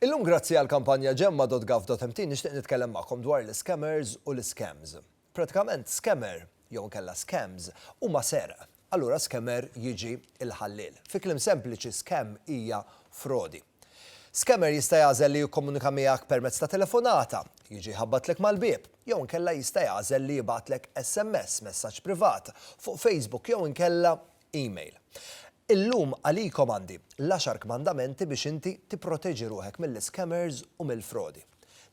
Illum grazzi għal kampanja gemma.gov.mt nixtieq nitkellem magħkom dwar l-scammers u l-scams. Pratikament scammer jew inkella scams huma serq. Allura scammer jiġi il-ħalliel. Fi kliem sempliċi scam hija frodi. Scammer jista' jagħżel li jikkomunika miegħek permezz ta' telefonata, jiġi jħabbatlek mal-bieb, jew inkella jista' jagħżel li jibgħatlek SMS, messaġġ privat, fuq Facebook jew inkella email. Illum għalikom għandi l-Għaxar Kmandamenti biex inti tipproteġi ruħek mill-iscammers u mill-frodi.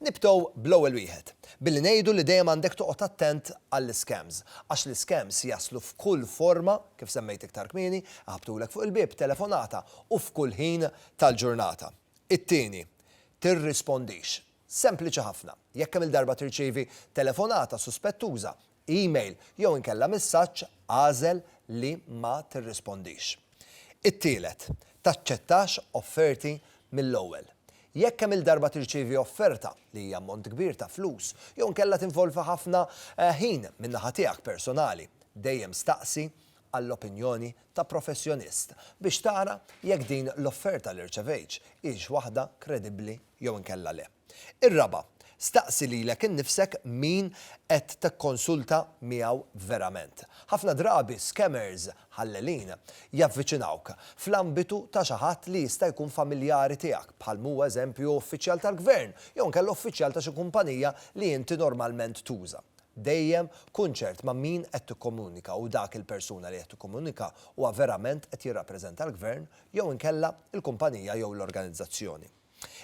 Nibdew bl-ewwel wieħed, billi ngħidu li dejjem għandek toqgħod attent għall-iscams, għax l-iscams jaslu f'kull forma, kif semmejt iktar kmieni, iħabbtulek fuq il-bieb, telefonata, u f'kull ħin tal-ġurnata. It-tieni, tirrispondix. Sempliċi ħafna, jekk kemm-il darba tirċievi telefonata suspettuża, email jew inkella messaġġ agħżel li ma tirrispondix. It-tielet, taċċettax offerti mill-ewwel. Jekk kemm-il darba tirċievi offerta li hija ammont kbir ta' flus jew inkella tinvolvi ħafna ħin min-naħa tiegħek personali, dejjem staqsi għall-opinjoni ta' professjonist biex tara jekk din l-offerta li rċevejtx hix waħda kredibbli jew inkella le. Ir-raba', staqsi lilek innifsek min qed tikkonsulta miegħu verament. Ħafna drabi scammers ħallelin javviċinawk fl-ambitu ta' xi ħadd li jista' jkun familjari tiegħek, bħal m'hu eżempju uffiċjal tal-gvern jew inkella uffiċjal ta' xi kumpanija li inti normalment tuża. Dejjem kun ċert ma' min qed tikkomunika u dak il-persuna li qed tikkomunika huwa verament qed jirrappreżenta l-gvern jew inkella l-kumpanija jew l-organizzazzjoni.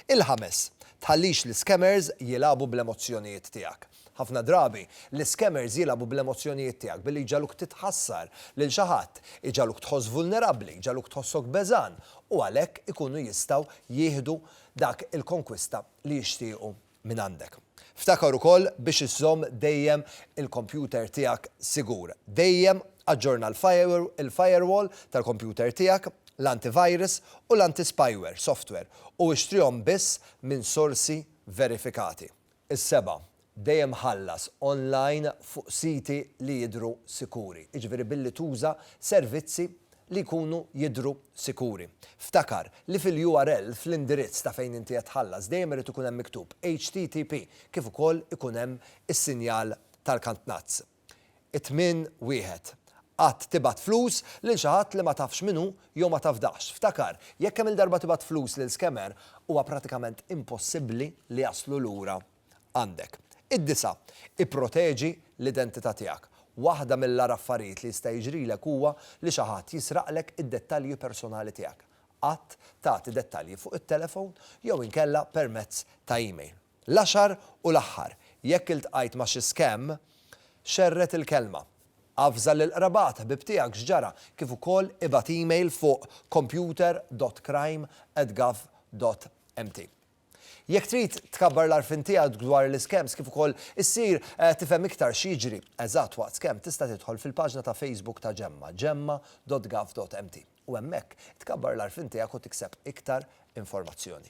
Il-ħames, tħallix l-iscammers jilagħbu bl-emozzjonijiet tiegħek. Ħafna drabi, l-iscammers jilagħbu bl-emozzjonijiet tiegħek billi jġagħluk titħassar lil xi ħadd, iġagħluk tħoss vulnerabbli, jġagħluk tħossok beżgħan u għalhekk ikunu jistgħu jieħdu dak il-konkwista li jixtiequ mingħandek. Ftakar ukoll biex iżżomm dejjem il-kompjuter tiegħek sigur. Dejjem aġġorna l-firewall tal-kompjuter tiegħek, l-antivirus u l-antispyware software u ixtrihom biss minn sorsi verifikati. Is-seba', dejjem ħallas online fuq siti li jidhru sikuri, jiġifieri billi tuża servizzi li jkunu jidhru sikuri. Ftakar li fil-URL, fl-indirizz ta' fejn inti qed tħallas, dejjem irid ikun hemm miktub HTTP kif ukoll ikun hemm is-sinjal tal-kantnazz. 8 1. Qatt tibgħat flus lil xi ħadd li ma tafx min hu jew ma tafdax. Ftakar, jekk kemm-il darba tibgħat flus lil scammer, huwa pratikament impossibbli li jaslu lura għandek. Id-disa', ipproteġi l-identità tiegħek. Waħda mill-agħar affarijiet li jista' jiġrilek huwa li xi ħadd jisraqlek id-dettalji personali tiegħek. Qatt tagħti dettalji fuq it-telefon jew inkella permezz ta' email. L-għaxar u l-aħħar, jekk iltqajt ma' xi scam, xerred il-kelma. Avża lil qrabat, ħbieb tiegħek x'ġara, kif ukoll ibgħat email fuq computer.crime@gov.mt. Jekk trid tkabbar l-għarfien tiegħek dwar l-iskems kif ukoll issir tifhem iktar x'jiġri eżatt waqt skemm tista' tidħol fil-paġna ta' Facebook ta' Ġemma, gemma.gov.mt, u hemmhekk tkabbar l-għarfien tiegħek u tikseb iktar informazzjoni.